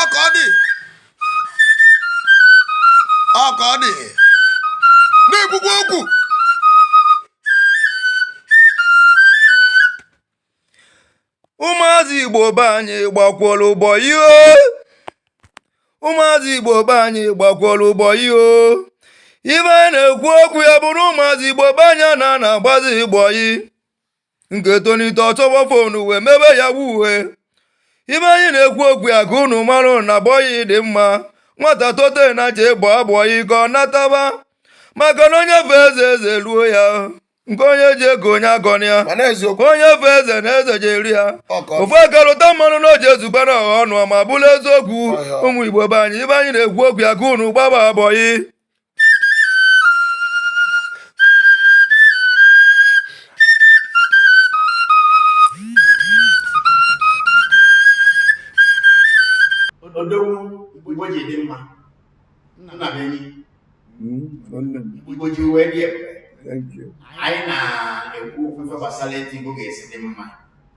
ọka ọ dị ọka ọ dị na-ekwukwa okwu ụmụazị igbo be anyị gbakwọrọ bọyị ụmụazị igbo be anyị gbakwọrọ bọyị ife anyị na-ekwu okwu ya bụrụ ụmụazị igbo be anyị na na-agbazi bọyị nke tonite ọ chọba fonu wee mebe yahoo ife anyị na-ekwu okwu ya ka unu mara na bọyị dị mma nwata tote nya je gbaa bọyị ka ọ nataba maka na onye fee eze eze eruo ya nke onye ji eka onye agọna ya onye fee eze na eze je-eru ya ofu aka rụta mmanụ na o ji ezubara ọha ọnụ ma bụrụ eziokwu ụmụ igbo be anyị ife anyị na-ekwu okwu ya ka unu gbaba bọyị odogwu igbo ji dị mma na be anyị igbo ji wee dị ebube anyị na-ekwu okwu ife gbasara etu igbo ga-esi dị mma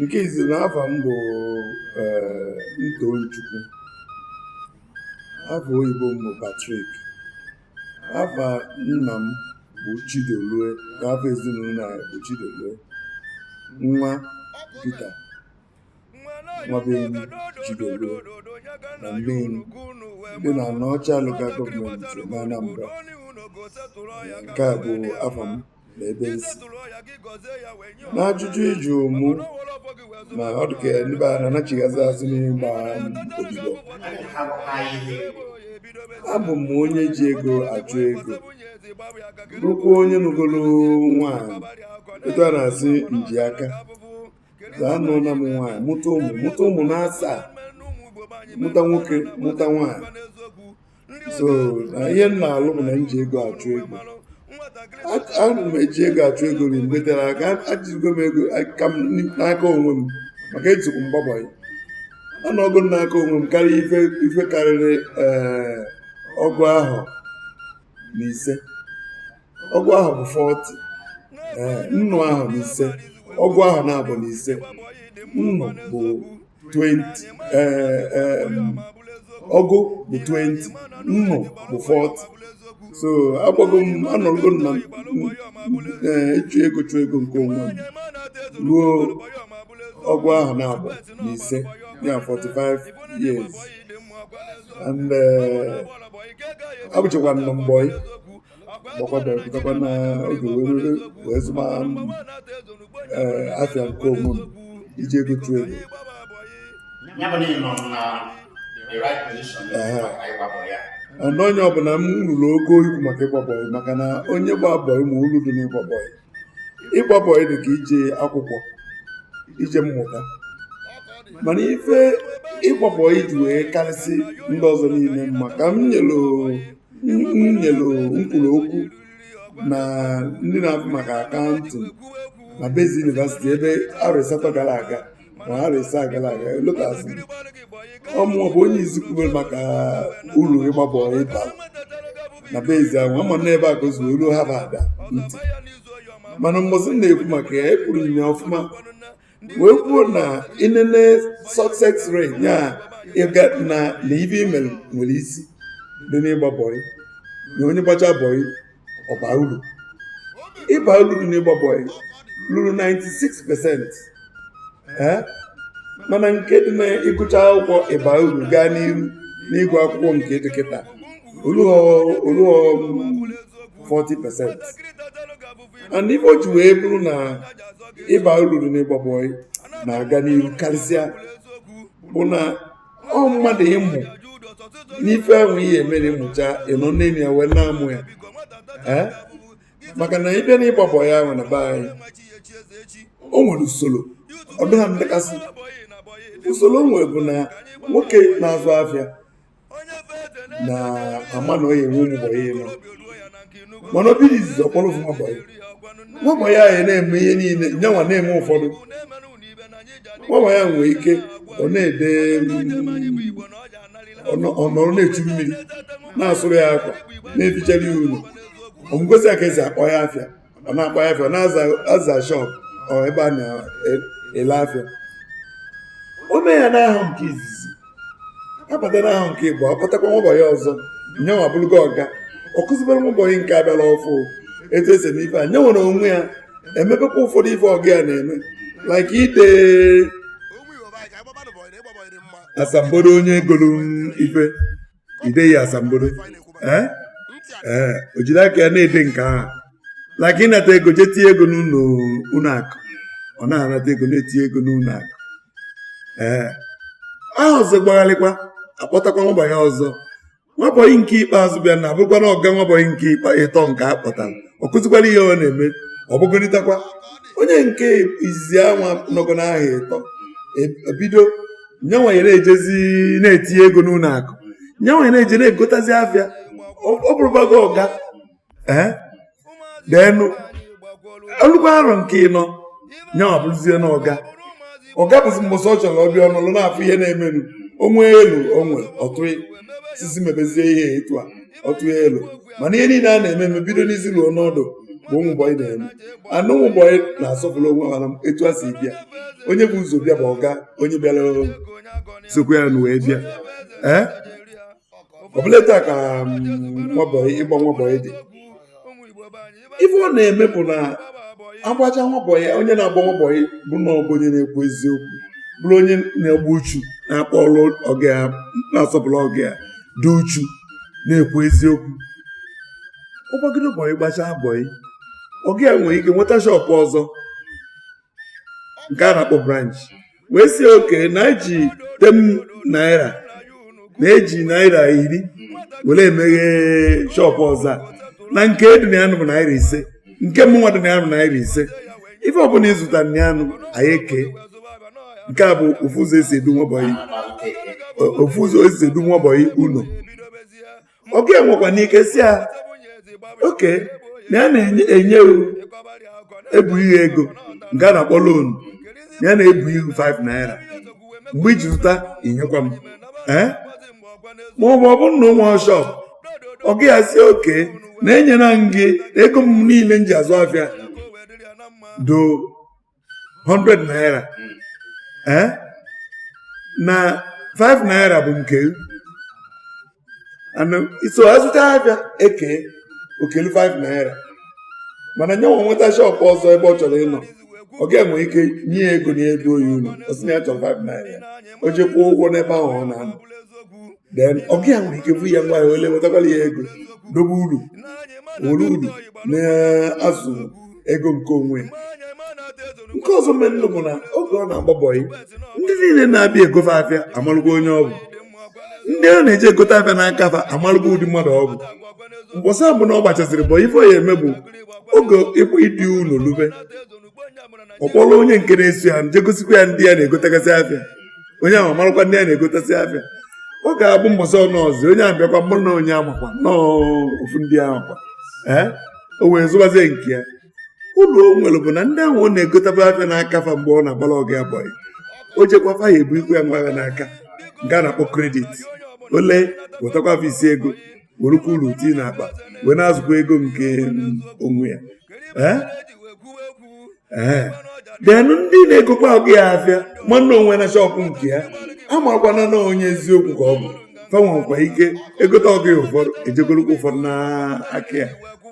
nke izizi na afa m bụ eh, Tochukwu afa oyibo m bụ Patrick afa nna m bụ Chidolue na afa ezinụlọ anyị bụ Chidolue nwa Peter nwa be enyi Chidolue na Neni dị na Anaocha Local Government na Anambra nke a bụ afa m na ebe m si n'ajụjụ ị jụụ mụ na ọ dị ka ndị be anyị na-anachighazị azụ n'ịgba odibo abụ m onye ji ego achụ ego bụrụkwa onye nụgoro nwaanyị etu a na-asị nji aka ga anụọna m nwaanyị mụta ụmụ mụta ụmụ na asaa mụta nwoke mụta nwaanyị so na ihe m na-alụ bụ na m ji ego achụ ego ana m eji ego achụ ego eri mgbe tere aka ejigo m aka m n'aka onwe m maka etukwu m gba bọyị anọgo m n'aka onwe m karịa ife ife karịrị ee ọgụ ahọ na ise ọgụ ahọ bụ 40 ee nnụ ahọ na ise ọgụ ahọ naabọ na ise nnụ bụ 20 eh, eh, ọgụ bụ 20 nnụ bụ 40 so agbago m anọrọgo m na eh, ịchụ ego chụ ego nke onwe m ruo ọgụ ahọ naabọ na ise ya 45 years and eh, abụchakwa m nwa bọyị gbakwana pụtakwa na oge were wee zụma ee afịa nke onwe m iji ego chụọ ego Ya bụ na ị nọ na the right position Ehe. maka ịgba bọyị. ọnụ onye ọbụla m ruru ogo ikwu maka ịgba bọyị maka na onye gba bọyị ma uru dị n'ịgba bọyị ịgba bọyị dị ka ije akwụkwọ ije mmụta mana ife ịgba bọyị ji wee karịsị ndị ọzọ niile mma ka m nyere m nyere nkwuru okwu na ndị na-ahụ maka akaụntụ na Baze University ebe arọ asatọ gara aga na arọ asaa gara aga elotazi ọ mụ bụ onye izizi kwubere maka uru ịgba bọyị bara na Baze ahụ ama na ebe a ka o si wee ruo Harvard ntị mana mbọsị m na-ekwu maka ya ekwuru m ya ọfụma wee kwuo na ị nene success rate ya ịga na na ife imere nwere isi dị n'ịgba bọyị na onye gbacha bọyị ọ baa uru ịba uru dị n'ịgba bọyị ruru 96 percent mana nke dị na ịgụcha akwụkwọ ịba uru gaa n'iru n'ịgụ akwụkwọ nke dị kịta olughọ 40 percent and ife o ji wee bụrụ na ịba uru dị n'ịgba bọyị na-aga n'iru karịsịa bụ na ọ mmadụ ịmụ n'ife ahụ ihe emere ịmụcha ịnọ n'enu ya wee na-amụ ya ee maka na ị bịa na ịgba bọyị ahụ na be anyị o nwere usoro ọ dịghị ndekasị usoro o nwere bụ na nwoke na-azụ afịa na ama na onye nwe ụmụ bọyị anọ mana o bido izizi ọ kpọrọ ofu nwabọyị nwabọyị ahụ na-eme ihe niile nyanwa na-eme ụfọdụ nwabọyị ahụ nwere ike ọ naa be ọ nọrọ na-echu mmiri na-asụrụ ya akwa na-efichara ya ụlọ ọmụgosi ya ka esi akpọ ya afịa ọ na-akpọ afịa ọ na-aza shọp ebe a na-ele afịa o mee ya n'ahọ nke izizi abata n'ahọ nke ịbụa akpọtakwa nwabọyị ọzọ nyanwa bụrụgo ọga ọ kụzibere nwabọyị nke a bịara ọfụụ etu esi eme ife a nya nwere onwe ya emebekwa ụfọdụ ife ọga ya na-eme like ide asambodo onye golu ife ide ya asambodo ee ee o jiri aka ya na-ede nke ahụ like ịnata ego jee tinye ego n'ụlọ ụlọ akụ ọ na-anata ego na-etinye ego n'ụlọ akụ ee ahọ ọzọ gbagharịkwa akpọtakwa nwabọyị ọzọ nwabọyị nke ikpeazụ bịa na abụrụkwa ọga nwabọyị nke ikpe ịtọ nke a kpọtara ọ kụzikwara ihe ọ na-eme o bugonitakwa onye nke izizi anwa nọgo n'ahọ ịtọ ebido nyanwa nye na-ejezi na-etinye ego n'ụlọ akụ nyanwa nye na-eje na-egotazi afịa ọ bụrụbago ọga ee then o lugo arọ nke ịnọ nyanwa bụrụzie na ọga ọga bụzi mbọsị ọ chọrọ ọ bịa ọ nọlụ na-afụ ihe na-emenụ o nwee elo o nwe ọ tụọ sị si mebezie ihe etu a ọ tụọ elo mana ihe niile a na-eme eme bido n'isi ruo n'ọdụ bụ ụmụ bọyị na-eme ya nụ ụmụ bọyị na-asọpụrụ onwe ha etu e si bịa onye bu ụzọ bịa bụ ọga onye bịara sokwa ya na wee bịa ee ọbụla taa ka mm, nwabọyị ịgba nwabọyị dị ife ọ na-eme bụ na a gbacha nwabọyị onye na-agba nwabọyị bụ na ọ bụ onye na-ekwu eziokwu bụrụ onye na-egbu uchu na-akpọ ọrụ ọga ya na-asọpụrụ ọga ya dị uchu na-ekwu eziokwu ọ gbagide bọyị gbachaa bọyị ọga ya nwere ike nweta shọpụ ọzọ nke a na-akpọ branch wee sị okay na e ji ten naira na e ji naira iri were emeghe shọpụ ọzọ na nke dị na ya bụ naira ise nke mụnwa dị na ya bụ naira ise ife ọbụla ị zụta na ya anyị eke nke a bụ ofu ụzọ e si edu nwabọyị ofu ụzọ e si edu nwabọyị ụlọ ọga enwekwanụ ike sị ya okay na ya na-enye ebunye ego nke a na-akpọ loan ya na-ebunye gị 5 naira mgbe i ji zụta i nyekwa m ee ma ọ bụ ọ bụrụ na ụmụ shọp ọga ya sị okay na enyere m gị ego m niile m ji azụ afịa doo 100 naira ee na 5 naira bụ nke anụ i so azụta a bịa eke o kelu 5 naira mana nyanwa nweta shọpụ ọzọ ebe ọ chọrọ ịnọ ọga ya nwere ike nye ya ego na-edu bọyị ụlọ ọ sị na ya chọrọ 5 naira ya o ji kwụọ ụgwọ n'ebe ahụ ọ na-anọ then ọga ya nwere ike bunye ya ngwa afịa o lee wetakwala ya ego dobe uru were uru na-azụ ego nke onwe nke ọzọ mere nụ bụ na oge ọ na-agba bọyị ndị niile na-abịa ego fa afịa amalụgo onye ọ bụ ndị ọ na-eje egote afịa n'aka fa amalụgo ụdị mmadụ ọ bụ mbọsị ọbụna ọ gbachasịrị bọyị ife ọ ya-eme bụ oge ịkpụ idu ụlọ lube ọ kpọrọ onye nke na-eso ya jee gosikwa ya ndị ya na-egotegasị afịa onye ahụ amalụkwa ndị ya na-egotasị afịa ọ ga-abụ mbọsị ọnụ ọzọ onye ahụ bịakwa mụ na onye amakwa na ofu ndị ahụ kwa ee o wee zụbazie nke ya uru o nwere bụ na ndị ahụ ọ na-egotaba afịa n'aka fa mgbe ọ na-agbara ọga ya bọyị o jekwa fa ya-ebunyekwu ya ngwa afịa n'aka nke a na-akpọ kredit o lee wetakwa fa isi ego werukwa uru tii n'akpa wee na-azụkwa ego nke onwe ya ee den ndị na-egokwa ọga ya afịa ma na o nweena shọpụ nke ya amakwana na onye eziokwu ka ọ bụ fa nwekwa ike egote ọga ya ụfọdụ ejegolokwa ụfọdụ n'aka ya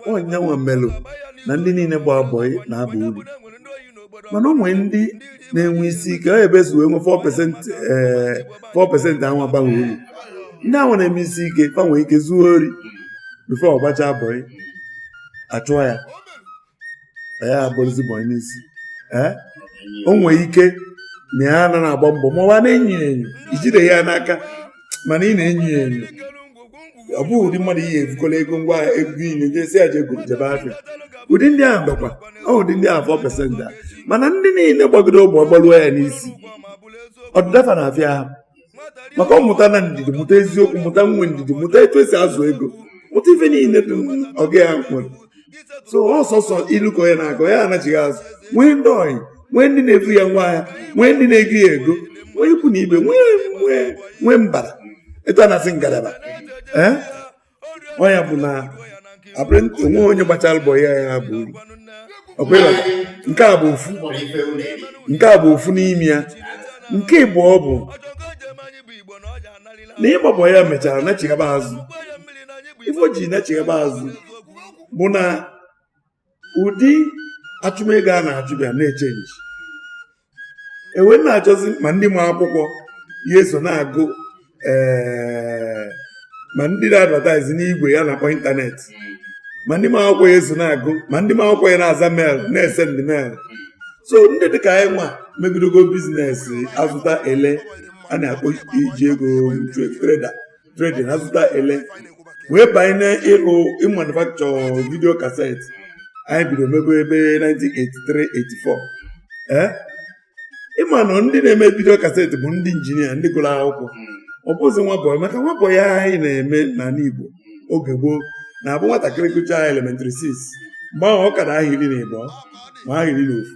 ọ nya nwa melụ na ndị niile gba bọị na-aba uru mana o nwee ndị na-enwe isi ike ọ ebe e si wee nwe 4% ee 4% a nwa abaghị uru ndị ahụ na-eme isi ike ga-enwe ike zuo ori bifo ọ gbacha bọị achụọ ya ya agbaruzi bọị n'isi ee o nwere ike na ya nwa na-agba mbọ ma ọ na-enyo enyo i jide ya n'aka mana ị na-enyo enyo ọ bụghị ụdị mmadụ ị ya-ebukọla ego ngwa ego i nwe je sị ya je goro jebe afịa ụdị ndị ahụ bakwa ọ ụdị ndị ahụ 4 pesent a mana ndị niile gbagide bọị gbaruo ya n'isi ọdịda fa na-afịa ahụ maka ọ mụtana ndidi mụta eziokwu mụta inwe ndidi mụta etu esi azụ ego mụta ife niile ndị ọga ya nwere so ọ sọsọ ilu ka ọ ya na-aga ya anachighị azụ nwee ndị ọyị nwee ndị na-ebu ya ngwa ahịa nwee ndị na-ego ya ego nwee ikwu na ibe nwee mbara etu a na-asị ngalaba ee eh? ọ ya bụ na abụrụ o nwe onye gbachara bọị a ya bụ uru nke a bụ ofu n'ime ya nke ịbụọ bụ na ịgba bọị a mechara nachighaba azụ ife o ji nachighaba azụ bụ na ụdị achụmego a na-achụ bịa na-echenji e wee na-achọzi ma ndị ma akwụkwọ ya eso na-agụ eh, ma ndị na-advataizi n'igwe a na-akpọ ịntanetị ma ndị ma akwụkwọ ya eso na-agụ ma ndị ma akwụkwọ ya na-aza mel na-esendị mel so ndị dịka anyị nwa megidogo bizinesi azụta ele a na-akpọ iji ego treda trading azụta ele wee banye n'ịrụ ịmanufakchọ vidio kaset anyị bido mebe ebe 1983-84 ee ị ma na ndị na-eme vidio kaset bụ ndị injinia ndị gụrụ akwụkwọ ọ bụzi nwa bọyị maka nwa bọyị anyị na-eme n'ala Igbo oge gboo na-abụ nwatakịrị gụchaa elementịrị 6 mgbe ahụ ọ ka nọ ahọ iri na ịbụọ ma ahọ iri na ofu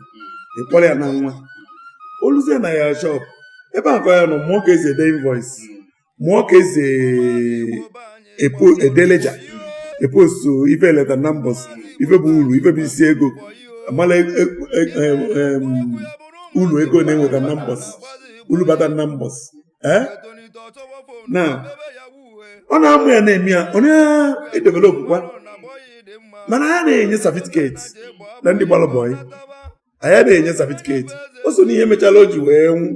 ị kpọrọ ya na nwa oluzie na ya shọp ebe a ka ọ ya-anọ mụọ ka esi ede invoice mụọ ka esi ede leja epostu ife e leta na mbọsị ife bụ uru ife bụ isi ego amala e, e, e, uru ego na-enweta na mbọsị uru bata na mbọsị eh? na ọ na-amụ ya na-eme ya ọ na-edevelopụkwa mana a naghị enye satifiketi na ndị gbalụ bọyị anyị na-enye satifiketi o so n'ihe mechala o ji wee nwụ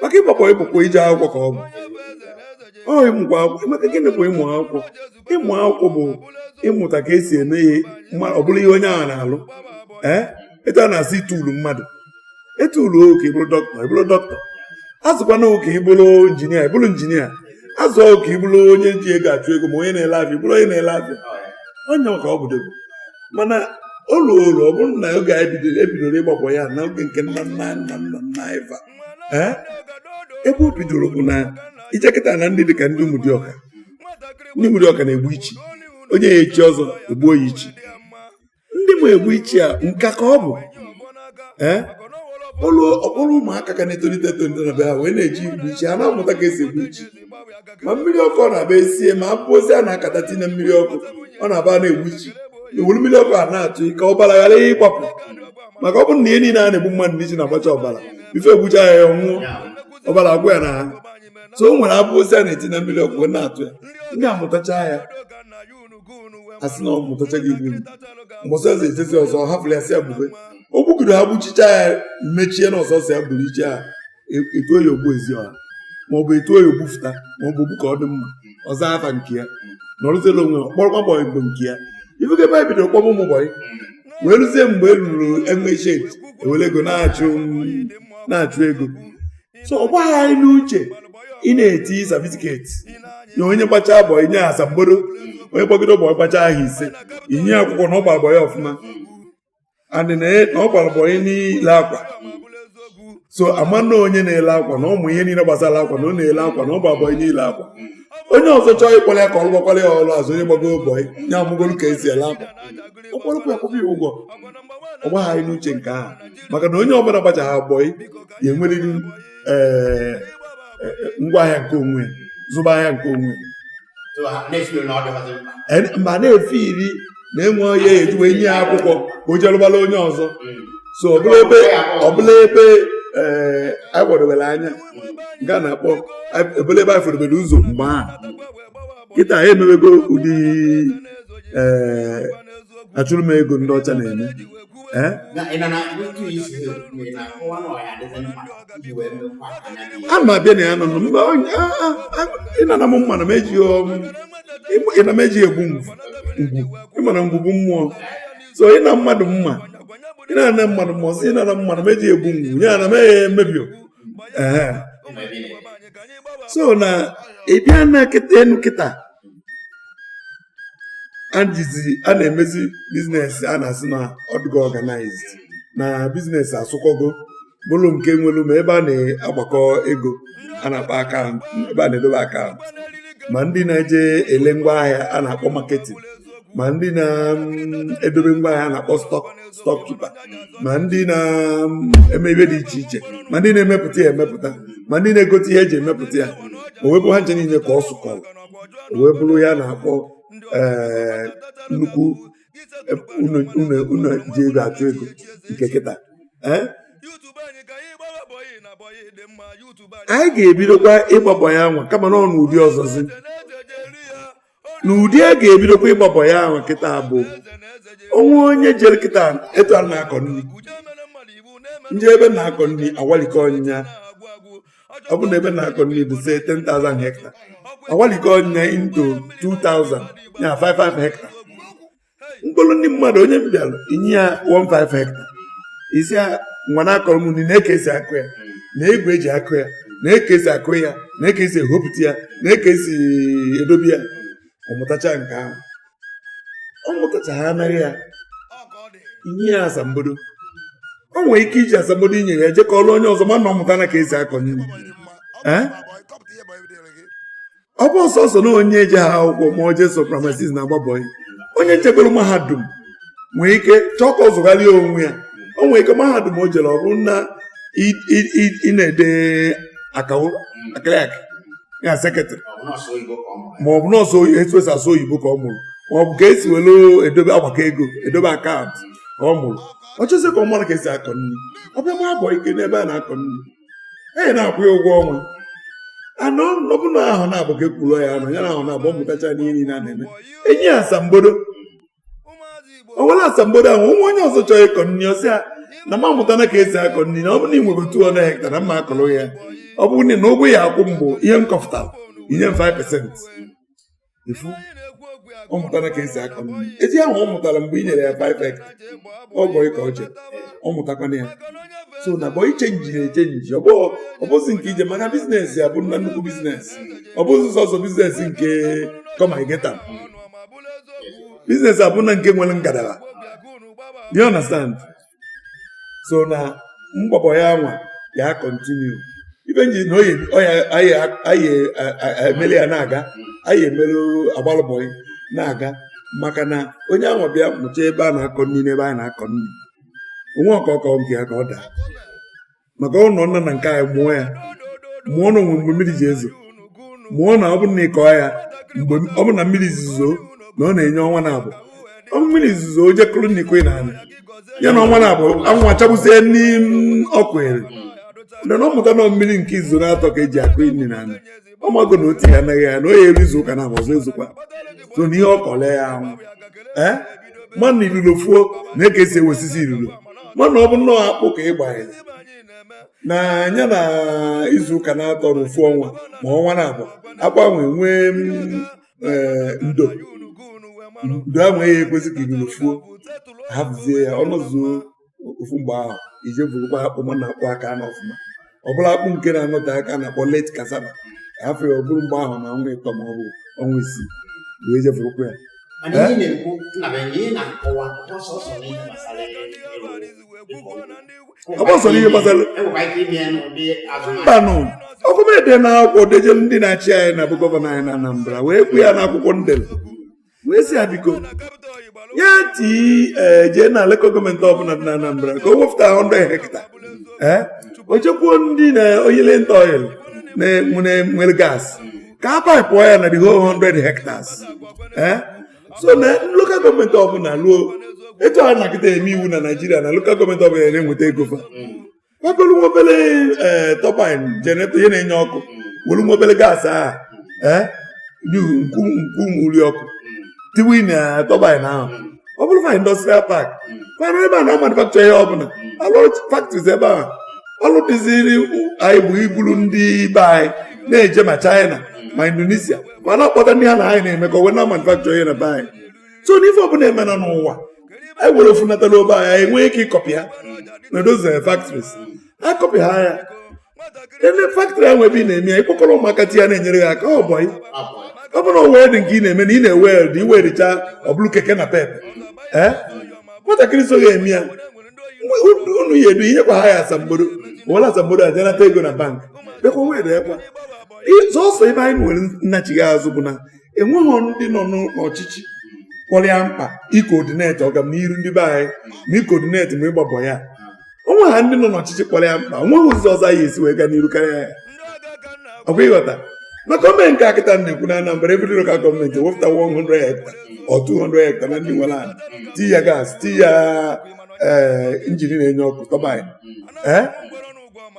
maka ịgba bọyị bụkwa ije akwụkwọ ka ọ bụ ọ ịmụkwa akwụkwọ maka gịnị bụ ịmụ akwụkwọ ịmụ akwụkwọ bụ ịmụta ka esi eme ihe ọ bụrụ ihe onye ahụ na-alụ ee eh? etu a na-asị ituulu mmadụ etuulu ka ịbụrụ dọkịta ịbụrụ dọkịta azụkwana ka ịbụrụ injinia ịbụrụ injinia azụọ ka ịbụrụ onye ji ego achụ ego ma onye na-ele afịa ịbụrụ onye na-ele afịa onye maka ọ bụ dogo mana o ruoro ọ bụrụ na oge anyị bidoro ebidoro ịgba bọyị na oge nke nna nna nna nna nna anyị fa ee ebe o bidoro bụ na ị jee kịta na ndị dịka ndị ụmụdịọka ndị ụmụdịọka na-egbu ichi onye ya echi ọzọ egbuo ya ichi ndị ma egbu ichi a nka ka ọ bụ ee ọlụ ọ kpọrọ ụmụaka ka na-etolite etolite na be ha wee na-eje igbu ichi ha na-amụta ka esi egbu ichi ma mmiri ọkụ ọ na-aba esie ma abụ ozi a na-akata tinye mmiri ọkụ ọ na-aba na-egbu ichi ewere mmiri ọkụ a na-atụ ka ọbara ghara ịgbapụ maka ọ bụrụ na ihe niile a na-egbu mmadụ n'ichi na-agbacha ọbara ife egbucha ya ya nwụọ ọbara agwụ ya n'ahụ so o nwere abụ ozi a na-etinye na mmiri ọkụ na-atụ ya ndị amụtacha ya asị na ọ mụtachago igbu mbọsị ọzọ etezi ọzọ hapụrụ ya sị ya gbube o gbugoro ha gbuchicha ya mechie na ọ sọsọ ya gburu ichi ha etuo ya ogbu ezi ọha maọbụ etuo ya ogbufụta maọbụ ogbu ka ọ dị mma ọ zaa afa nke ya nọrọzie na onwe kpọrọkwa bọyị bụ nke ya ifuke ebe bidoro kpọba ụmụ bọyị wee ruzie mgbe e ruru enwe shed ewere ego na-achụ na-achụ ego so ọ baghị anyị n'uche ị na-eti satifiketi na onye gbachaa bọyị nye asambodo onye gbagide bọyị gbacha ahọ ise enye akwụkwọ na ọ gbara bọyị ọfụma and na ọ gbara bọyị n'ile akwa so ama na onye na-ele akwa na ọ ma ihe niile gbasara akwa na ọ na-ele akwa na ọ gbara bọyị n'ile akwa onye ọzọ chọọ ịkpọrọ ya ka ọ gbakwara ya ọrụ azụ onye gbago bọyị nye amụgolu ka esi ele akwa ọ kpọrọkwa ya kwụba ya ụgwọ ọ baghị anyị n'uche nke ahụ maka na onye ọbụla gbachara bọyị ya enwerịrị ee eh, eh, eh, ngwa ahịa nke onwe zụba ahịa nke onwe ma na-efe iri na enwe onye eji wee nye ya akwụkwọ ka o jelụbala onye ọzọ hmm. so ọ bụrọ ebe ọ bụrọ ebe ee eh, anyị gbadobere anya nke a na-akpọ ọ bụrọ ebe anyị fụdobere ụzọ mgbe a kịta anyị emewego ụdị ee eh, achụrụ m ego ndị ọcha na-eme a ma bịa na ya nọ mba ịnana m mma na m eji ọrụ na m eji egbu ngwu ị ma na ngwu bụ mmụọ so ịna mmadụ mma ịna-ana mmadụ mma ọsọ ịnana mmadụ mma eji egbu ngwu ya na m emebio ee so na ị bịa na kịta enu kịta a na-emezi biznes a na-asị na ọdụgo ọganaiz na biznes asụkọgo bụrụ nke nwere ma ebe a na-agbakọ ego a na-akpọ akaụntụ ebe a na-edobe akaụntụ ma ndị na-eje ele ngwa ahịa a na-akpọ maketin ma ndị na-edobe ngwa ahịa a na-akpọ stọk kipa ma ndị na-eme ihe dị iche iche ma ndị na-emepụta ya emepụta ma ndị na-egote ihe eji emepụta ya o wee bụ ha ncha niile ka ọ sụkọrọ wee bụrụ ihe a na-akpọ eh, nnukwu unu ji ego achụ ego nke kịta eh? anyị ga-ebidokwa ịgba bọyị a nwa kama na ọ n'ụdị ọzọzi n'ụdị a ga-ebidokwa ịgba bọyị a nwa kịta bụ o nwee onye jere kịta etu a na-akọ nri m jee ebe a na-akọ nri awalikọ ọnyịnya ọ bụ na ebe a na-akọ nri bụ say 10,000 hekta awalikọọ nya into 2,000 ya 5 5 hekta m kpọrọ ndị mmadụ onye m bịara i nye ya 5 hekta ị sị ya nwa na-akọrọ m nri na ka esi akụ ya na igwe eji akụ ya na ka esi akụ ya na ka esi ehopụta ya na ka esi edobe ya ọ mụtacha nke ahụ ọ mụtacha ha anaghị ya inye ya asambodo o nwere ike iji asambodo i nyere ya je kọọlụ onye ọzọ mana ọ mụtana ka esi akọ nri ọ bụrọ sọsọ na onye ejeha akwụkwọ ma o jee sọ praịmarị siks na-agba bọyị onye jegoro mahadum nwee ike chọọ ka ọ zụgharịa onwe ya o nwere ike mahadum o jere ọ bụrụ na ị na-ede akawo akịrịakị ya sekretrị ma ọ bụ na ọ sọ etu esi asụ oyibo ka ọ mụrụ ma ọ bụ ka esi were edobe agbakọ ego edobe akaụntụ ka ọ mụrụ ọ chọzi ka ọ mara ka esi akọ nri ọ bịa gbaa bọyị n'ebe a na-akọ nri anyị na-akwụ ya ụgwọ ọnwa anọ ọ bụ na ahọ naabọ ka ekwuru ya anọọ ya na ahọ naabọ ọ mụtacha n'ihe niile a na-eme e nye ya asambodo o were asambodo ahụ nwa onye ọzọ chọrọ ịkọ nri ọ sị ya na m amụtana ka esi akọ nri na ọ bụrụ na ị nwere 200 hekta na m ga-akọrọ ya ọ bụrụ na na ụgwọ ị ya-akwụ m bụ ihe m kọfụtara i nye m 5% ifu ọ mụtara ka esi akọ nri eji ahụ ọ mụtara mgbe ị nyere ya 5 hekta ọ bọyị ka o je ọ mụtakwana ya so na bọyị chenji na-echenji ọ bụzi nke ije maka bizinesi ya bụ na nnukwu bizinesi ọ bụzi sọsọ bizinesi nke kọma igeta biznes abụna nke nwere ngalaba you understand so na ịgba bọyị a nwa ya-akọntinu ibe nji na anyị emeli ya na-aga anyị emeli agbalụ bọyị na-aga maka na onye ahụ bịa mụcha ebe a na-akọ nri n'ebe a na-akọ nri onwe ọkọkọ nke ya ka ọ daa maka ụlọ nna na nke anyị mụọ ya mụọ na o nwe mgbe mmiri ji ezo mụọ na ọ bụrụ na ịkọọ ya mgbe ọ bụ na mmiri zuzo na ọ na-enye ọnwa na abụọ mmiri zuzo o je kụrụ na ikwe na anị ya na ọnwa na abụọ anwụ achagbuzie n'ime ọkụ ere na ọ mụta na mmiri nke izu na-atọ ka eji akụ nri na anị ọ mago na otu ya anaghị ya na o ya eru izu ụka na abụọ ọzọ ezokwa so na ihe ọ kọle ya anwụ ee mana ilulo fuo na eke esi ewesisi ilulo mana ọ bụ nnọọ akpụ ka ị gbanyere na anya na izu ụka na-atọ na ofu ọnwa ma ọnwa na-abụọ akpụ ahụ enwee mm, eh, ndo ndo ahụ eghị ekwezi ka ilulo fuo hapụzie ya ọ nọzuo ofu mgbe ahụ i je burukwa akpụ ma na-akpụ aka na ọfụma ọ bụla akpụ nke na-anọte aka na-akpọ late cassava afọ ya ọ bụrụ mgbe ahụ na ọnwa ịtọ ma ọ bụ ọnwa isii wee je burukwa ya ọ gbasara ihe gbasara mmanụ ọkụ m ede na akwụkwọ dejelu ndị na-achị anyị na bụ gọvanọ anyị na Anambra wee kwu ya n'akwụkwọ m dele wee sị ya biko ya tii eh, jee na lokal gọọmenti ọbụla dị na Anambra ka o wepụta 100 hectare eh, o jekwuo ndị na Oriental Oil nwere gas ka a paịpụọ ya na the whole 100 hectares eh, so na lokal gọọmenti ọbụla ruo etu a na akịta eme iwu na Naịjirịa na lokal gọọmenti ọbụla na-enweta ego fa nwebere nwa obere eh, turbine generator ihe na-enye ọkụ were nwa obere gas ahụ eh, n'ihu nku nku uri ọkụ tiwe na turbine ahụ ọ bụrụ fa industrial park mana ebe a na-amanufacture ihe ọbụla alụ factories ebe ahụ ọlụ dịziri anyị bụ iburu ndị be anyị na-eje ma China ma Indonesia ma na-akpọta ndị ha na anyị na-emekọ wee na manufacture ihe na be anyị so n'ife ọbụla emena n'ụwa anyị were ofu nata na be anyị enweghị ike ịkọpị ha na those factories akọpị ha ya ele factory ahụ ebe ị na-eme ya ịkpọkọrọ ụmụaka tiye na-enyere gị aka ọ bụ ọ bụrụ na welding nke ị na-eme na ị na-eweld ị weldịcha ọ bụlụ keke napep ee nwatakịrị so gị eme ya unu ya edu inyekwa ha ya asambodo were asambodo a je nata ego na bank bekwa weldekwa sọsọ ebe anyị nwere ndachighi azụ bụ na enweghị ndị nọ n'ọchịchị kpọrọ ya mkpa ịcoordinate ọganiru ndị be anyị ma ịcoordinate ma ịgba mbọ ya onweghị ndị nọ n'ọchịchị kpọrọ ya mkpa onweghị ụzọ ọzọ ya esi wee gaa n'iru karịa ya ọkwa ịghọta maka o mee nke a kịta na-ekwu na Anambra every lokal gọọmenti ewepụta 100 hectare or 200 hectare na ndị nwere ala tii ya gas tii ya eh, injin na-enye ọkụ turbine eh?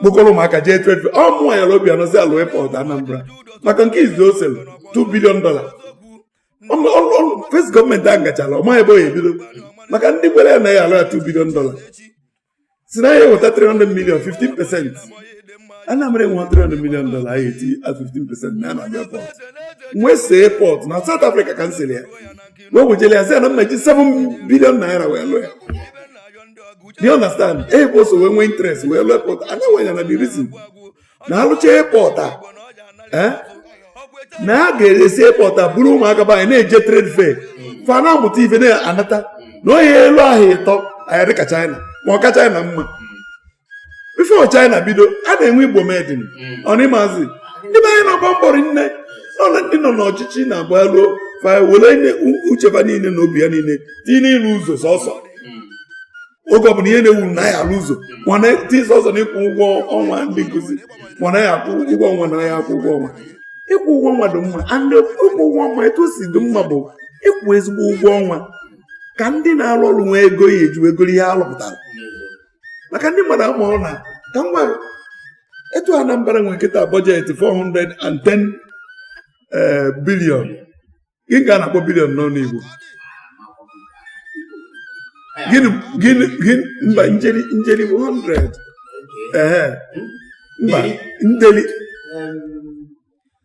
kpokọrọ ụmụaka jee trade fair ọ mụnwa yara Obiano ji alụ airport Anambra maka nke izizi o sere 2 billion dollar first gọọmenti ahụ gachara ọ maghị ebe ọ ya ebido maka ndị kwere ya na ya alụra 2 billion dollar sị na ya eweta 300 million 15 percent Anambra enwe 300 million dollar ahụ eti 15 percent na na airport m wee see airport na South Africa ka m sere ya wee wejele ya sị ya na m ya-eji 7 billion naira wee lụọ ya do you understand ebe o so wee nwee interest wee lụọ airport anya nwanya na the reason na a lụcha airport a eh, na a ga-esi airport a buru ụmụaka be anyị na-eje trade fair fa na-amụta ife na-anata na ọ ya-elu ahọ ịtọ anyị adịka China ma ọ ka China mma before China bido a na-enwe Igbo made mm. ọ na ị mazi ndị be anyị na-agba mbọ nne nọ na ndị nọ n'ọchịchị na-agba elu were uche fa niile na obi ha niile tinye n'ịrụ ụzọ sọsọ mm. oge ọ bụla ihe na-ekwu na ya alụ ụzọ mana tinye sọsọ na ịkwụ ụgwọ ọnwa ndị nkụzi mana ya akwụ ụgwọ ọnwa na ya akwụ ụgwọ ọnwa ịkwụ ụgwọ ọnwa dị mma and ịkwụ ụgwọ ọnwa etu o si dị mma bụ ịkwụ ezigbo ụgwọ ọnwa ka ndị na-arụ ọrụ nwee ego ha ya-eji wee go ihe a rụpụtara maka ndị mmadụ amarọ na ka m gwara etu a Anambra nwere kịta budget 410 eh, billion gịnị ka a na-akpọ billion n'ọnụ Igbo gịnị gịnị gịnị mba njeri njeri 100 ee mba ndeli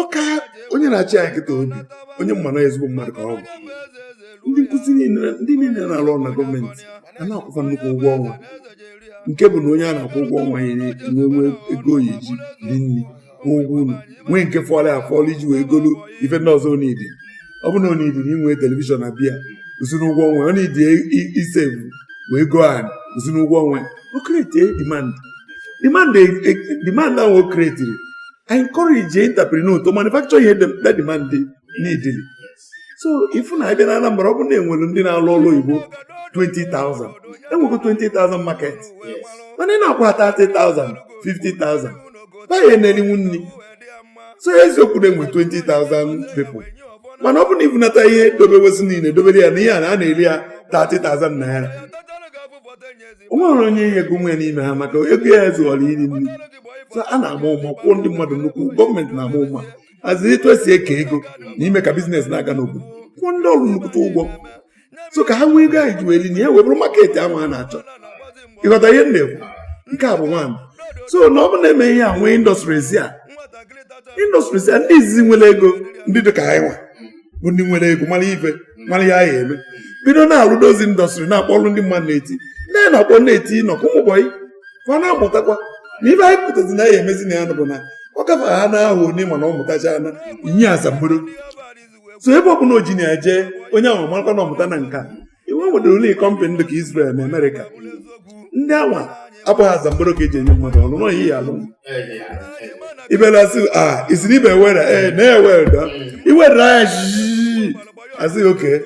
okay onye na-achị anyị kịta ọ bụ onye m ma na ezigbo mmadụ ka ọ bụ ndị nkụzi niile ndị niile na-arụ ọrụ na gọọmenti a na-akwụ fa nnukwu ụgwọ ọnwa nke bụ na onye a na-akwụ ụgwọ ọnwa ya enwe ego ọ ya-eji lie nri kwụọ ụgwọ ụnọ nwee nke fọlụ afọlụ iji wee golu ife ndị ọzọ ọ needi ọ bụ na ọ needi na inwe television na bịa usoro ụgwọ ọnwa ọ na-edi e save wee gụọ anyị usoro ụgwọ ọnwa o create demand demand ahụ o createri e encourage entrepreneur to manufacture ihe that demand needịrị. so ị fụ na a bịa na Anambra ọ bụrụ na enwere ndị na-alụ ọrụ oyibo 20,000 enwego 20,000 market mana ị na-akwụ ha 30,000 50,000 ba ya na-erinwu nri so eziokwu na-enwe 20,000 people mana ọ bụ na i bunata ihe dobewezi niile dobere ya na ihe a na-eri ya 30,000 naira o nwere onye ya-egonwu n'ime ha maka ego ha ezurọ iri nri a na-ama ụma kwụọ ndị mmadụ nnukwu gọọmenti na-ama ụma azi etu e si eke ego na ime ka business na-aga n'obodo kwụọ ndị ọrụ nnukwute ụgwọ so ka ha nwee ego ha ya-eji weli na ya wee bụrụ market ahụ a na-achọ ị ghọta ihe m na-ekwu nke a bụ one so na ọ bụ na e mee ihe a nwee industries a industries a ndị izizi nwere ego ndị dị ka anyịnwa bụ ndị nwere ego mara ife mara ya ya eme bido na-alụ those industries na-akpọlụ ndị mmadụ na-etinye na-akpọ na-eti nọkụ ụmụbọyị ka ọ na-amụtakwa na ife anyị pụtazi na ya emezi na ya bụ na ọ gafe ha na ahụ onye mana ọ mụtacha a na-enye asambodo so ebe ọ bụla o ji na ya jee onye ahụ marakwa na ọ mụtana nka iwe nwedịrị ụlọ kọmpanị dị ka Israel na Amerịka ndị anwa abụghị asambodo ka eji enye mmadụ ọrụ nọghị ya alụ ibelasị a isiri ibe were ee na-ewere da iwere anya jii asị okay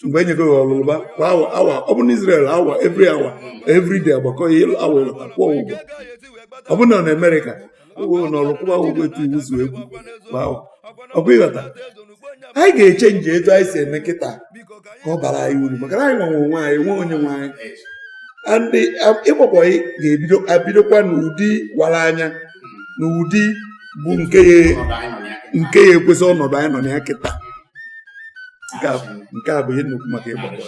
mgbe enyego ya ọlụ lụba kwa awa awa ọ bụ na Israel awa every hour every day agbakọ ya awa ị lụta kwụọ ụgwọ ọ bụ na na Amerịka ụlọ ọrụ kwụwa ụgwọ etu iwu si ekwu ọkwa ị ghọta anyị ga-echenji etu anyị si eme kịta ka ọ bara anyị uru maka na anyị nwa nwe onwe anyị nwe onye nwe anyị ndị ịgba bọyị ga-ebidokwa n'ụdị wara anya na ụdị bụ nke ya-ekwesị ọnọdụ anyị nọ na ya kịta nke a bụ ihe nnukwu maka ịgba bọyị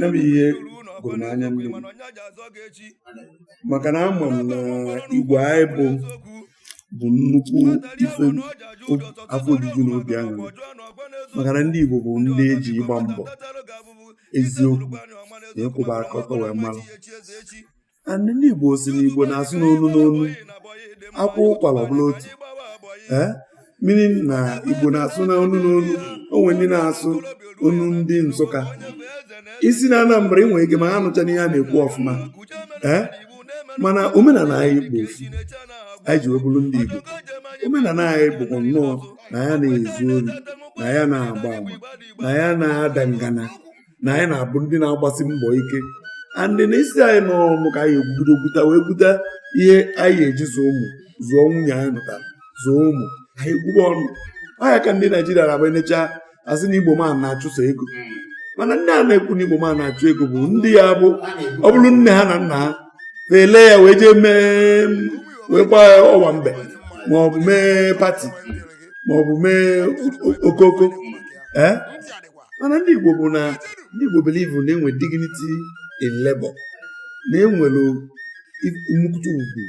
ya bụ ihe gụrụ m anya mmiri maka na ama m na Igbo anyị bụ bụ nnukwu ife afọ ojuju na obi aṅụrị maka na ndị Igbo bụ ndị eji ịgba mbọ eziokwu na ịkwụba aka ọtọ wee mara and ndị Igbo sị na Igbo na-asụ n'olu n'olu a kwaa ụkwara ọ bụrụ otu ee meaning na Igbo na-asụ n'olu n'olu o nwe ndị na-asụ onu ndị Nsụka i si na Anambra i nwere ike ma ha nụcha n'ihe a na-ekwu ọfụma ee mana omenala anyị bụ ofu anyị ji wee bụrụ ndị Igbo omenala anyị bụkwa nnọọ na anyị ana-ezu ori na anyị ana-agba ama na anyị ana-ada ngana na anyị na-abụ ndị na-agbasi mbọ ike and na ị sị anyị nọrọ ọnụ ka anyị ebido gwuta wee gwuta ihe anyị eji zụọ ụmụ zụọ nwunye anyị nụtara zụọ ụmụ anyị gwuba ọnụ ọ ya ka ndị Naịjirịa na-agba enecha asị na Igbo man na-achụso ego mana ndị a na-ekwu na Igbo man na-achụ ego bụ ndị ya bụ ọ bụrụ nne ha na nna ha na-ele ya wee jee mee wee gbaa owambe ma ọ bụ mee party ma ọ bụ mee okoko ee eh? mana ndị Igbo bụ na ndị Igbo believe na enwe dignity in labor na enwere nnukwute ugwu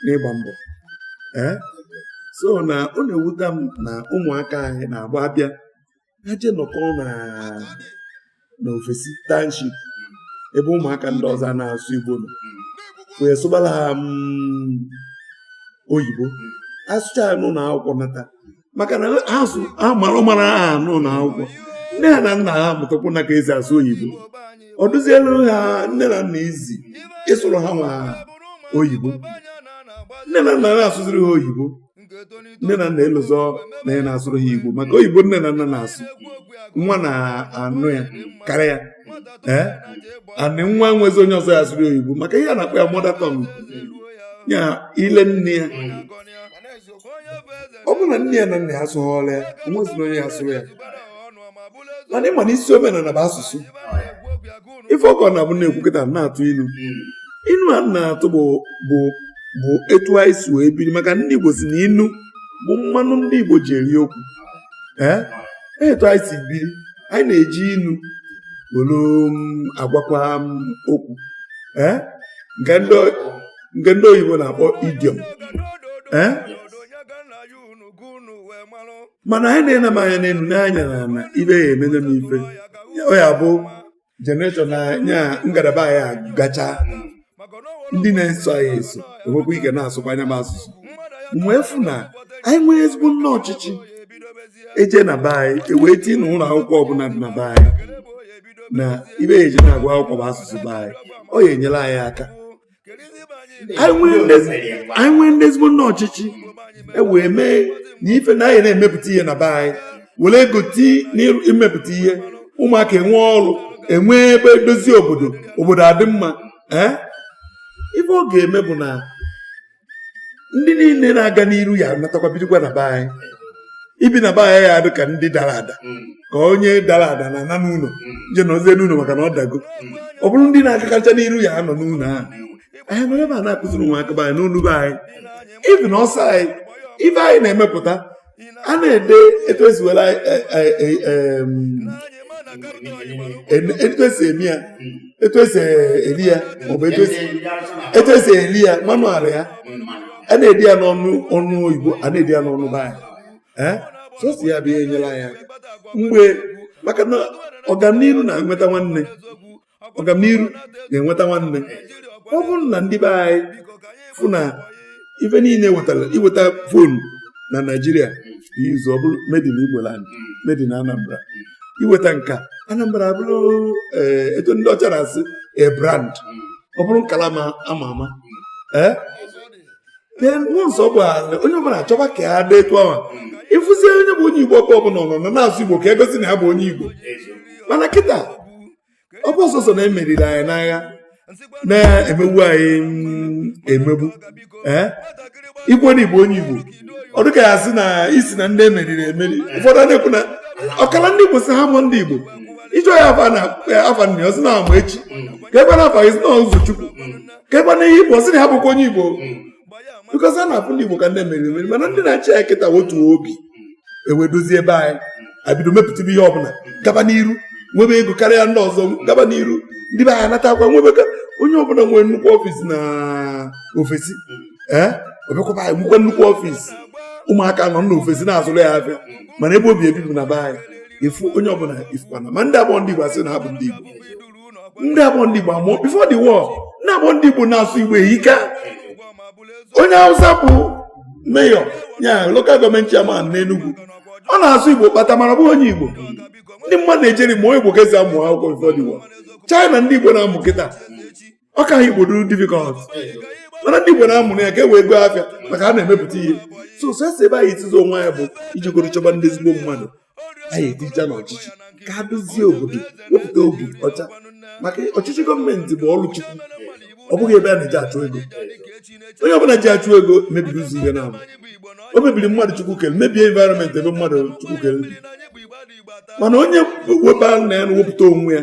n'ịgba mbọ eh? so na ọ na-ewuta m na ụmụaka anyị na-agba abịa ha jee nọkọ na ofesi township ebe ụmụaka ndị ọzọ na-asụ Igbo nọ wee sụbara ha mm, oyibo asụcha ya n'ụnọ akwụkwọ nata maka na azụ amara mara ha n'ụlọ akwụkwọ nne ha na nna ha mụtakwu na ka esi asụ oyibo ọ dịzielu ha nne na nna easy ịsụrụ ha nwa oyibo nne na nna na-asụziri ha oyibo nne na nna elozọ na ya na-asụrụ ha igbo maka oyibo nne na nna na-asụ nwa na-anụ ya karịa ya ee anị nwa nwezi onye ọzọ ya asụrụ oyibo maka ihe a na-akpọ ya mother tongue ya ile nne ya ọ bụrụ na nne ya na nna ya asụghọrọ ya o nwezina onye ya asụrụ ya mana ịma na isi omenala bụ asụsụ ife ọkọ na abụ na-ekwu kịta na-atụ inu inu a na-atụ bụ bụ bụ etu anyị si wee biri maka ndị Igbo sị na inu bụ mmanụ ndị Igbo ji eri okwu ee etu anyị si biri anyị na-eji inu were um, agwakwa um, okwu ee nke ndị nke ndị oyibo na-akpọ idiom ee mana anyị na-ene m anya n'elu n'anya na na ife ya emene m ife ọ ya bụ generation na nya ngalaba anyị gacha ndị na-eso anyị eso enwekwa ike na-asụkwa nya bụ asụsụ wee fụ na anyị nwere ezigbo nna ọchịchị eje na be anyị ewee tinye na ụlọ akwụkwọ ọbụla dị na be anyị na ife a ya eji na-agụ akwụkwọ bụ asụsụ be anyị ọ ya enyere anyị aka anyị nwee ndị ezigbo nna ọchịchị e wee mee na ife na anyị na-emepụta ihe na be anyị were ego tii n'imepụta ihe ụmụaka enwee ọrụ enwee ebe edozie obodo obodo adị mma ee eh? ife ọ ga-eme bụ na ndị niile na-aga n'iru ya natakwa bidokwa na be anyị ibi na be anyị ya adị ka ndị dara ada ka onye dara ada na ana n'ụlọ je nọzie n'ụlọ maka na ọ dago ọ bụrụ ndị na-agakarịcha n'iru ya anọ n'ụlọ ahụ anyị nọrọ ebe a na-akụziri ụmụaka be anyị n'onu be anyị ife na ọsọ anyị ife anyị na-emepụta a na-ede etu esi were etu esi eme ya etu esi eli ya maọbụ etu esi eli ya manual ya a na-ede ya n'onu onu oyibo a na-ede ya n'onu be anyị sọsọ ya bịa enyela ya mgbe maka na ọganiru na-enweta nwanne ọganiru ga-enweta nwanne ọ bụrụ na ndị be anyị fụ na ife niile wetara iweta phone na naijiria ịzụ ọ bụrụ made in Igbo land made in Anambra iweta nke a Anambra abụrụ eh, etu ndị ọcha na-asị a brand ọ bụrụ nkala ma ama ama ee eh? then once ọ gbara onye ọbụla achọba ka ya dị etu ahụ ịfụzie onye bụ onye Igbo ọbụla nọ na na-asụ Igbo ka egosi na ya bụ onye Igbo mana kịta ọ bụ sọsọ na emeriri anyị n'agha na-emegbu anyị emegbu ee i kwuo na ị bụ onye igbo ọ dịka a sị na i si na ndị emeriri emeri ụfọdụ a na-ekwu na ọkara ndị igbo sị ha abụọ ndị igbo ị jụọ ya afa na afa nne ọ sị na amaechi ka ekwe na afa gị sị na ụzọchukwu ka ekwe na ihe igbo ọ sị na ha abụọkwa onye igbo because a na-afụ ndị Igbo ka ndị emeriri emeri mana ndị na-achị ya kịta wetuo obi e wee dozie be anyị abido mepụtabe ihe ọbụla gaba n'iru nwebe ego karịa ndị ọzọ gaba n'iru ndị be anyị anatakwa nwebe onye ọbụla nwere nnukwu ọfịs na ofesi ee eh? ọ bịakwa be anyị nwekwa nnukwu ọfịs ụmụaka nọ n'ofesi na-azụrụ ya afịa mana ebe o bi ebi bụ na be anyị ị fụ onye ọbụla ị fụkwa na ma ndị abụọ ndị Igbo asị na ha bụ ndị Igbo ndị abụọ ndị Igbo amụọ before the war ndị abụọ ndị Igbo na-asụ Igbo ehike onye Hausa bụ mayor ya local government chairman n'Enugu ọ na-asụ Igbo kpata mana ọ bụghị onye Igbo ndị mmadụ na-ejeri mụọ Igbo ka esi amụ akwụkwọ before the war China ndị Igbo na-amụ kịta ọ ka ha Igbo dịrị difficult mana ndị Igbo na-amụ ya ka e wee goo afịa maka ha na-emepụta ihe so isi ebe anyị etizi onwe anyị bụ ijegoro chọba ndị ezigbo mmadụ anyị eticha n'ọchịchị ka ha dozie obodo wepụta obi ọcha maka ọchịchị gọọmenti bụ ọrụ chukwu ọ bụghị ebe a na-eji achụ ego onye ọbụla ji achụ ego mebiri ụzọ ihe naabọ o mebiri mmadụ chukwu kere mebie environment ebe mmadụ chukwu kere mana onye webara na ya na-ewepụta onwe ya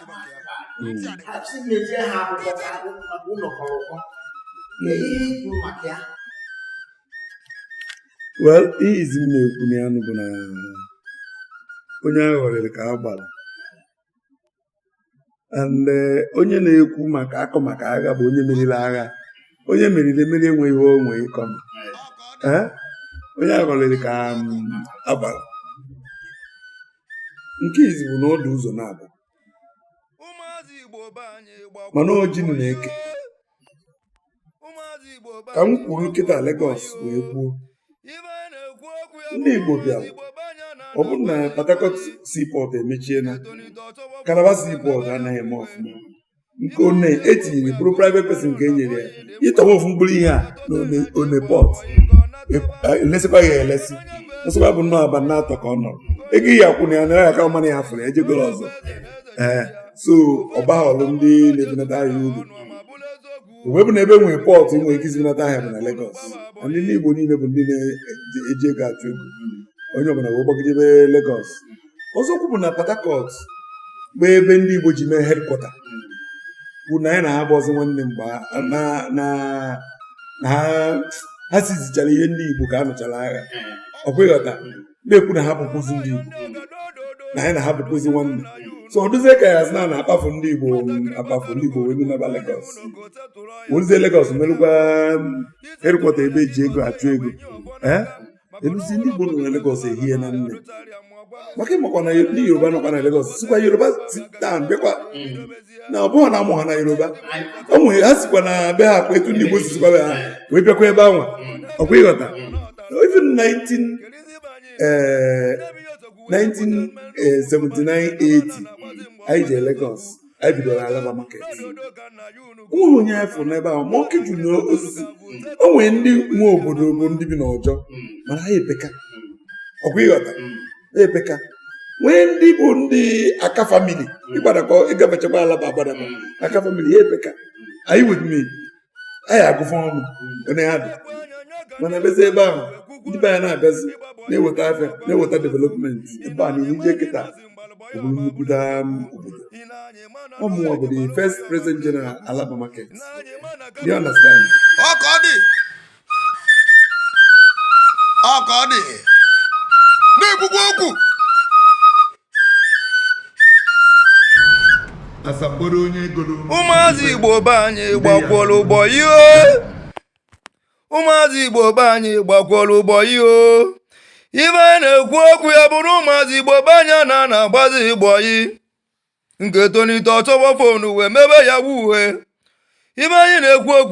achị na-eje ha akwụkwọ ka akwụ maka ụlọ kọrọ ụkọ ihe ikwu maka ya well ihe izizi m na-ekwu na ya nụ bụ na onye a ghọriri ka a gbara and eh, onye na-ekwu maka akọ maka agha bụ onye meriri agha onye emeriri emeri enweghị ihe o nwere ịkọ eh? onye a ghọriri ka mm, a gbara nke izizi bụ na ọ dị ụzọ naabọ mana ojinu na-eke ka m kwuru kịta Lagos wee kwuo ndị Igbo bịara ọ bụrụ na Port Harcourt seaport emechiela Calabar seaport anaghị eme ọfụma nke Onne etinyere bụrụ private person nke enyere ya ịtọwa ofu mkpụrụ ihe a na Onne port elesikwa ya elesi nsịkwa bụ nnọọ abalị naatọ ka ọ nọrọ ego ihe akwụ na ya nara aka ọmana ya fụrụ ejegoro ọzọ ee so ọ baghọlụ ndị na-ebunata ahịa uru o wee bụ na ebe nwere port ị nwere ike isi bunata ahịa bụ na Lagos ndị ndị Igbo niile bụ ndị na-eji ego achụ ego onye ọbụla wee gbagidebe Lagos ọzọkwu bụ na Port Harcourt bụ ebe ndị Igbo ji mee headquarter bụ na anyị na ha bụzi nwanne mgbe na ha seizechara ihe ndị Igbo ka a nụchara agha ọkwa ịghọta na-ekwu na ha abụkwụzi ndị Igbo na anyị na ha abụkwụzi nwanne so ọ dụzie ka a sị na a na-akpafu ndị Igbo akpafu ndị Igbo wee naba Legọs o ruzie Legọs merụkwa headquarter ebe eji ego achụ ego eluzi ndị Igbo nọ na Legọs ehie na nne maka ịmakwa na ndị Yoruba nọkwa na Legọs sikwa Yoruba state bịakwa na ọ bụghị na a mụ ha na Yoruba o nwere ha sikwa na be ha kwa etu ndị Igbo si sikwa be ha wee bịakwa ebe anwa ọkwa ịghọta even 19 eh, 1979 80 anyị jee Legọs anyị bidoro Alaba market ihe anyị fụ n'ebe ahụ monkey juru n'osisi o nwere ndị nwe obodo bụ ndị bi n'Ojo mana ha epeka ọkwa ịghọta ha epeka nwee ndị bụ ndị Aka family ịgbadakọ ịgabachakwa Alaba agbadakọ Aka family ya epeka anyị wetumi anyị agụ fa ọnụ one ha dị mana ebezi ebe ahụ ndị be anyị na-abịazi na-eweta afịa na-eweta development ebe a n'ihu ije kịta obodo nnukwuta um, obodo ọmụwa bụ the first president general Alaba market you understand ọ ka ọ dị ọ ka ọ dị na-ekwukwa okwu asakporo onye goro ụmụazị igbo be anyị gbakwuola ụgbọ ihe ụmụazị igbo be anyị gbakwuola ụgbọ ihe ibe anyị na-ekwu okwu ya bụrụ ụmụazị igbo be anyị a na-ana agbazi igbo yi nke tonite ọchọgbọ fonu wee mebe ya bụ ihe ibe anyị na-ekwu okwu